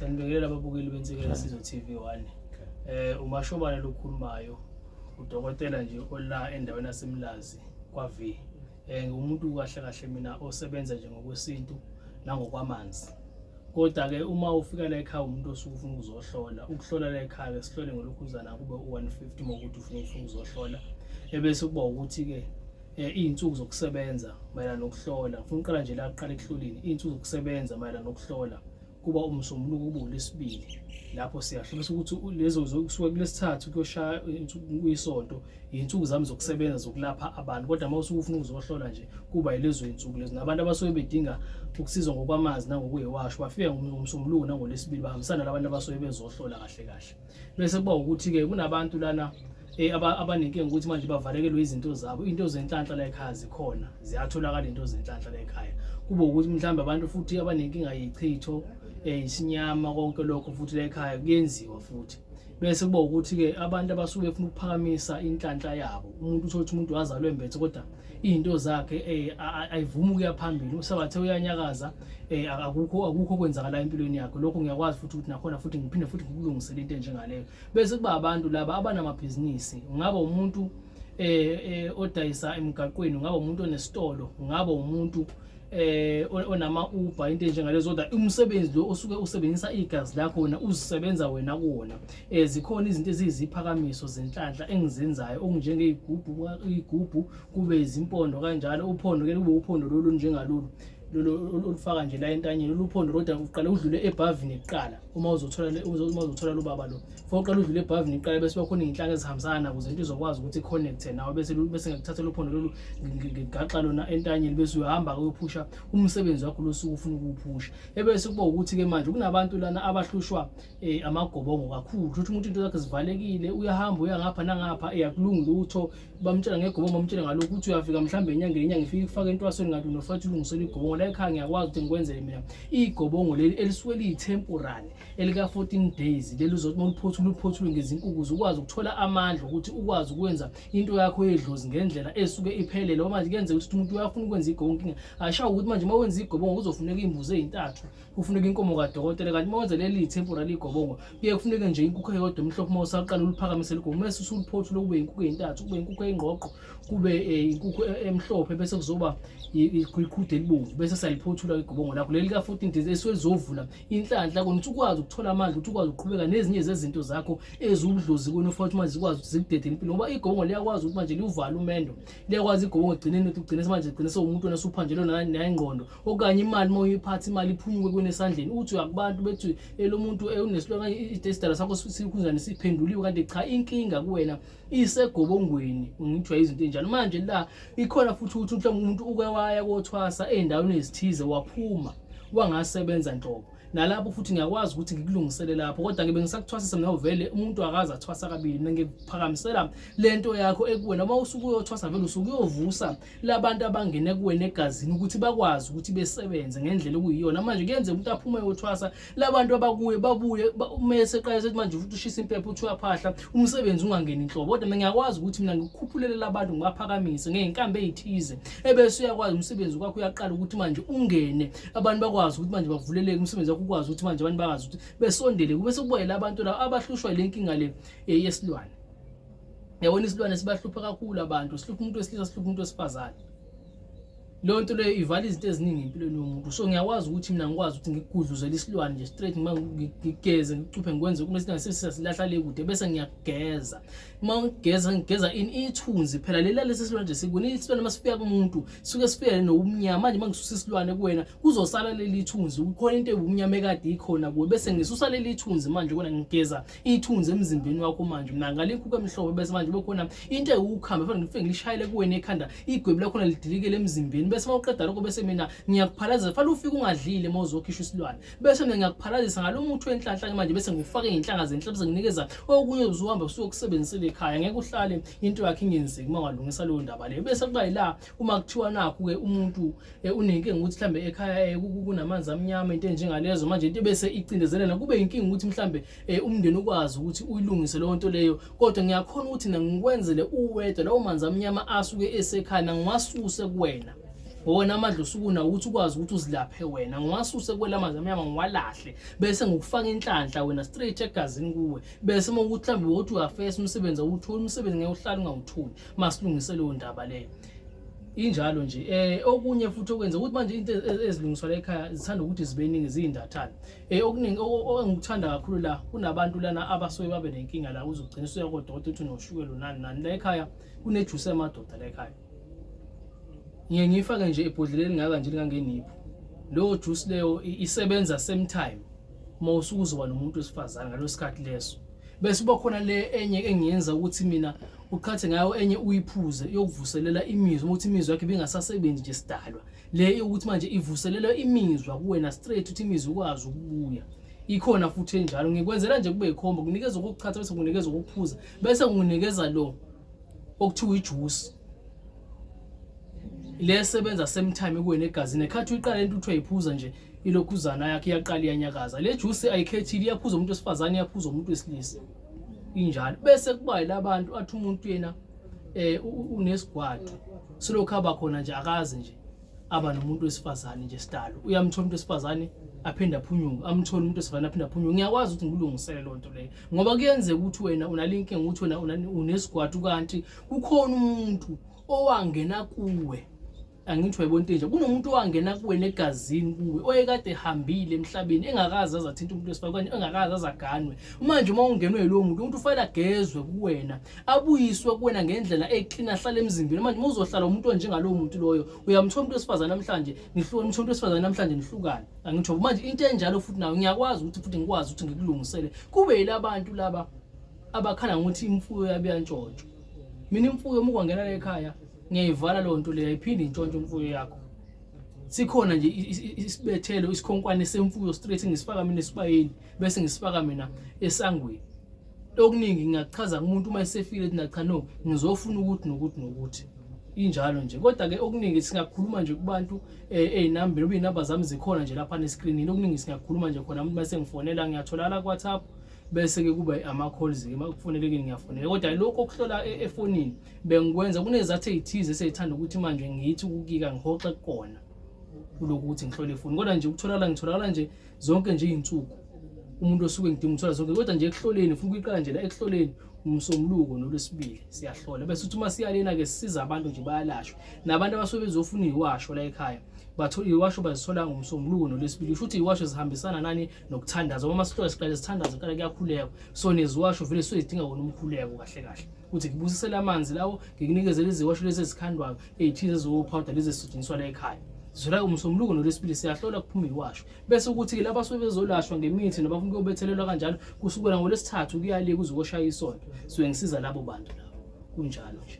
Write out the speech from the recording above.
Sanibingelela ababukeli bensekela Sizwe TV 1. Eh umashobane lokhulumayo udokotela nje ola endaweni yaseMlazi kwa V eh ngumuntu kahle kahle mina osebenza nje ngokwesintu nangokwamanzi kodwa ke uma ufika la ekhaya umuntu osuke ufuna ukuzohlola ukuhlola la ekhaya ke sihlole ngolokhuzana kube u150 mokuthi ufuna ufuna ukuzohlola ebese kuba ukuthi ke eh, izinsuku zokusebenza mayelana nokuhlola ufuna uqala nje la kuqala ekuhloleni izinsuku zokusebenza mayelana nokuhlola kuba umsombuluko kube ulesibili lapho siyahlula ukuthi lezo kusuke kulesithathu kuyoshaya kuyisonto yinsuku zami zokusebenza zokulapha abantu kodwa uma usuke ufuna ukuzohlola nje kuba yilezo yinsuku lezo nabantu abasuke bedinga ukusizwa ngokwamazi nangokuyiwasho bafika ngomsombuluko nangolesibili bahambisana labantu abasuke bezohlola kahle kahle bese kuba ukuthi-ke kunabantu lana eh, abanenkinga ukuthi manje bavalekelwe izinto zabo into zenhlanhla la ekhaya zikhona ziyatholakala into zenhlanhla la ekhaya kube ukuthi mhlawumbe abantu futhi abanenkinga yichitho um isinyama konke lokho futhi la ekhaya kuyenziwa futhi bese kuba ukuthi-ke abantu abasuke befuna ukuphakamisa inhlanhla yabo umuntu uthole ukuthi umuntu wazalwe mbethe kodwa izinto zakhe eh ayivumi ukuya phambili usabathe uyanyakaza eh akukho akukho kwenzakala empilweni yakhe lokho ngiyakwazi futhi ukuthi nakhona futhi ngiphinde futhi ngikulungisele into enjengaleyo bese kuba abantu laba abanamabhizinisi ngaba umuntu eh, eh odayisa emgaqweni ngaba umuntu onesitolo ngaba umuntu eh onama Uber into njengalezo kodwa umsebenzi lo osuke usebenzisa igazi lakho wena uzisebenza wena kuwona eh zikhona izinto eziziphakamiso zenhlanhla engizenzayo okunjenge igubhu igubhu kube izimpondo kanjalo uphondo ke kube uphondo lolu njengalolu lolu olufaka nje la entanyeni lolu uphondo kodwa uqale udlule ebhavini kuqala uma uzothola uma uzothola lo baba lo for uqala udlule ebhavini iqala bese bakhona izinhlaka ezihambisana nawo ukuze into izokwazi ukuthi connecte nawe bese bese ngikuthatha lo phondo lolu ngigaxa lona entanyeni bese uyahamba uyophusha umsebenzi wakho losuku ufuna ukuwuphusha ebese kuba ukuthi ke manje kunabantu lana abahlushwa eh, amagobongo kakhulu ukuthi umuntu into zakhe zivalekile uyahamba uyangapha nangapha eyakulungi lutho bamtshela ngegobongo bamtshele ngalokhu ukuthi uyafika mhlawumbe enyangeni inyanga ifike kufake entwasweni kanti unofathi ulungisela igobongo la ekhaya ngiyakwazi ukuthi ngikwenzele mina igobongo leli elisuke liyi-temporary elika-fourteen days leli uzothi uma uliphothula uliphothule ngezinkuku ukwazi ukuthola amandla ukuthi ukwazi ukwenza into yakho yedlozi ngendlela esuke iphelele omanje kuyenzeka ukuthi umuntu uyafuna ukwenza igobongo inkinga ashawo ukuthi manje uma wenza igobongo kuzofuneka iy'mbuzi ey'ntathu kufuneka inkomo kadokotela kanti uma wenza leli temporary igobongo kuye kufuneke nje inkukhu eyodwa emhlophe uma usaqala uliphakamise ligobongo mese usuliphothu lokube inkukhu ezintathu kube inkukhu eyingqoqo kube eh, inkukhu e, emhlophe bese kuzoba iqhude elibomvu bese saliphothula igobongo lakho leli ka 14 days eswezovula inhlanhla kona ukuthi ukwazi ukuthola amandla ukuthi ukwazi ukuqhubeka nezinye zezinto zakho eziwudlozi kona ufa ukuthi manje zikwazi ukuthi zikudede impilo ngoba igobongo liyakwazi ukuthi manje liwuvale umendo liyakwazi igobongo ekugcineni ukuthi ugcine manje ugcine sewumuntu wena suphanjelwe nayingqondo okanye imali uma uyiphatha imali iphunyuke kwena esandleni uthi uya kubantu bethi elo muntu unesilwane idesidala sakho sikhunjani siphenduliwe kanti cha inkinga kuwena isegobongweni ngithiwa izinto enjalo manje la ikhona futhi ukuthi mhlawumbe umuntu uke waya kothwasa ey'ndaweni ezithize waphuma wangasebenza nhlobo nalapho futhi ngiyakwazi ukuthi ngikulungisele lapho kodwa ke bengisakuthwasisa mina uvele umuntu akaze athwasa kabili mina ngiphakamisela lento yakho ekuwena uma usuke uyothwasa vele usuke uyovusa labantu abangene kuwena egazini ukuthi bakwazi ukuthi besebenze ngendlela okuyiyona manje kuyenzeka ukuthi aphume yothwasa labantu abakuye babuye umese eqale sethi manje futhi ushisa impepho uthi uyaphahla umsebenzi ungangeni inhlobo kodwa mina ngiyakwazi ukuthi mina ngikukhuphulele labantu ngibaphakamise ngeyinkambi eyithize ebese uyakwazi umsebenzi kwakho uyaqala ukuthi manje ungene abantu bakwazi ukuthi manje bavuleleke umsebenzi wakho ukwazi ukuthi manje abantu bakwazi ukuthi besondele kube sekubayela abantu laba abahlushwa ile nkinga le eh, yesilwane Yabona isilwane sibahlupha kakhulu abantu, sihlupha umuntu wesilisa, sihlupha umuntu wesifazane. Leyo nto leyo ivala izinto eziningi empilweni yomuntu. So ngiyakwazi ukuthi mina ngikwazi ukuthi ngigudluzele isilwane nje straight noma ngigeze ngicuphe ngikwenze uma singasebenzisa silahla le kude bese ngiyageza. Uma ngigeza ngigeza in ithunzi phela lela lesi silwane nje sikune isilwane masifika kumuntu suke sifike nobumnyama manje mangisusa isilwane kuwena kuzosala leli ithunzi kukhona into ebumnyama ekade ikhona kuwe bese ngisusa leli ithunzi manje kona ngigeza ithunzi emzimbeni wakho manje mina ngalinkuku emhlophe bese manje kube khona into ewukhamba efana ngifike ngilishayele kuwena ekhanda igwebu lakhona lidilikele emzimbeni bese mawuqeda lokho bese mina ngiyakuphalazisa fanele ufike ungadlile uma uzokhishwa isilwane bese mina ngiyakuphalazisa ngalo muthi wenhlanhla ke manje bese ngifake inhlanga zenhla bese nginikeza okunye uzohamba usuke kusebenzisile ekhaya ngeke uhlale into yakhe ingenzeki uma ungalungisa leyo ndaba leyo bese kuba yila uma kuthiwa nakhu-ke umuntu um unenkinga ukuthi mhlawumbe ekhaya um kunamanzi amnyama into enjengalezo manje into ebese icindezelena kube yinkinga ukuthi mhlawumbe um umndeni ukwazi ukuthi uyilungise leyo nto leyo kodwa ngiyakhona ukuthi nangikwenzele uwedwa lawo manzi amnyama asuke esekhaya nangiwasuse kuwena wona amandla usukuna ukuthi ukwazi ukuthi uzilaphe wena ngiwasuse kwela manzi amnyama ngiwalahle bese ngokufaka inhlanhla wena straight egazini kuwe bese uma ukuthi mhlawumbe wothi uyafesa umsebenzi awuwutholi umsebenzi ngeke uhlale ungawutholi masilungise leyo ndaba leyo injalo nje eh okunye futhi okwenza ukuthi manje into e-, ezilungiswa la ekhaya zithanda ukuthi zibeningi zizindathana eh okuningi engikuthanda kakhulu la kunabantu lana abasuke babe nenkinga la uzogcina usuya kodokotela uthi noshukela nani nani la ekhaya kunejuice emadoda la ekhaya ngiye ngiyifake nje ebhodleleni ngaka nje lingangenipho leyo juice leyo isebenza same time uma usukuzoba nomuntu wesifazane ngalesikhathi leso bese uba khona le enye engiyenza ukuthi mina uqhathe ngayo enye uyiphuze yokuvuselela imizwa ukuthi imizwa yakhe bingasasebenzi nje sidalwa le yokuthi manje ivuselelwe imizwa kuwena straight ukuthi imizwa ukwazi ukubuya ikhona futhi enjalo ngikwenzela nje kube ikhombo kunikeza ukuchatha bese kunikeza ukuphuza bese nginikeza lo okuthiwa ijuice le sebenza same time kuwena egazini ekhathi uyiqala into uthi uyiphuza nje ilokhuzana yakhe iyaqala iyanyakaza le juice ayikhethile iyaphuza umuntu wesifazane iyaphuza umuntu wesilisa injalo bese kuba yilabantu athi umuntu yena eh unesigwadi silokhu aba khona nje akazi nje aba nomuntu wesifazane nje sidalo uyamthola umuntu wesifazane aphinde aphunyuke amthole umuntu wesifazane aphinde aphunyuke ngiyakwazi ukuthi ngilungisele loo nto leyo ngoba kuyenzeka ukuthi wena unalinkinga ukuthi wena unesigwadi kanti kukhona umuntu owangena kuwe angithi wayibona into enje kunomuntu owangena kuwena egazini kuwe oyekade ehambile emhlabeni engakazi azathinta umuntu wesifakane engakazi azaganwe manje uma ungenwe yilowo muntu umuntu ufanele agezwe kuwena abuyiswe kuwena ngendlela eklina ahlale emzimbeni manje uma uzohlala umuntu onjengalowo muntu loyo uyamthola umuntu wesifazane namhlanje nihlukane umthola umuntu wesifazane namhlanje nihlukane angitho manje into enjalo futhi nayo ngiyakwazi ukuthi futhi ngikwazi ukuthi ngikulungisele kube yilabantu laba abakhala ngokuthi imfuyo yabo iyantshontshwa mina imfuyo uma ukwangena ekhaya ngiyayivala leyo nto leyo ayiphinde intshontshe imfuyo yakho sikhona nje isibethelo isikhonkwane semfuyo straight ngisifaka mina esibayeni bese ngisifaka mina esangweni okuningi ngingachaza kumuntu uma esefile ukuthi nacha no ngizofuna ukuthi nokuthi nokuthi injalo nje kodwa ke okuningi singakhuluma nje kubantu eh, ezinambeni ubinamba zami zikhona nje lapha nescreenini okuningi singakhuluma nje khona umuntu bese ngifonela ngiyatholakala ku WhatsApp bese ke kuba ama calls ke makufonele ke ngiyafonela kodwa lokho okuhlola e-, efonini bengikwenza kunezathu ezithize eseyithanda ukuthi manje ngithi ukukika ngihoxe kona kulokuthi ngihlole ifoni kodwa nje ukutholakala ngitholakala nje zonke nje izinsuku umuntu osuke ngidinga ukuthola zonke kodwa nje ekuhloleni ufuna ukuyiqala nje la ekuhloleni umsombuluko nolwesibili siyahlola bese uthi uma siyalena ke sisiza abantu nje bayalashwa nabantu abasuke bezofuna iwasho la ekhaya bathola iwasho bazithola ngomsombuluko nolwesibili usho ukuthi iwasho zihambisana nani nokuthandaza uma sihlola siqale sithandaza kuqale kuyakhuleka so neziwasho vele suke zidinga wona umkhuleko kahle kahle ukuthi ngibusisele amanzi lawo ngikunikezele iziwasho lezi ezikhandwayo eyithize eziwophawuda lezi ezisetshenziswa la ekhaya zula umsombuluko nolwesibili siyahlola kuphuma iwasho bese ukuthi ke laba sebezolashwa ngemithi nabafuna ukuyobethelelwa kanjalo kusukela ngolwesithathu kuyaliye kuze koshaya isonto suke ngisiza labo bantu labo kunjalo nje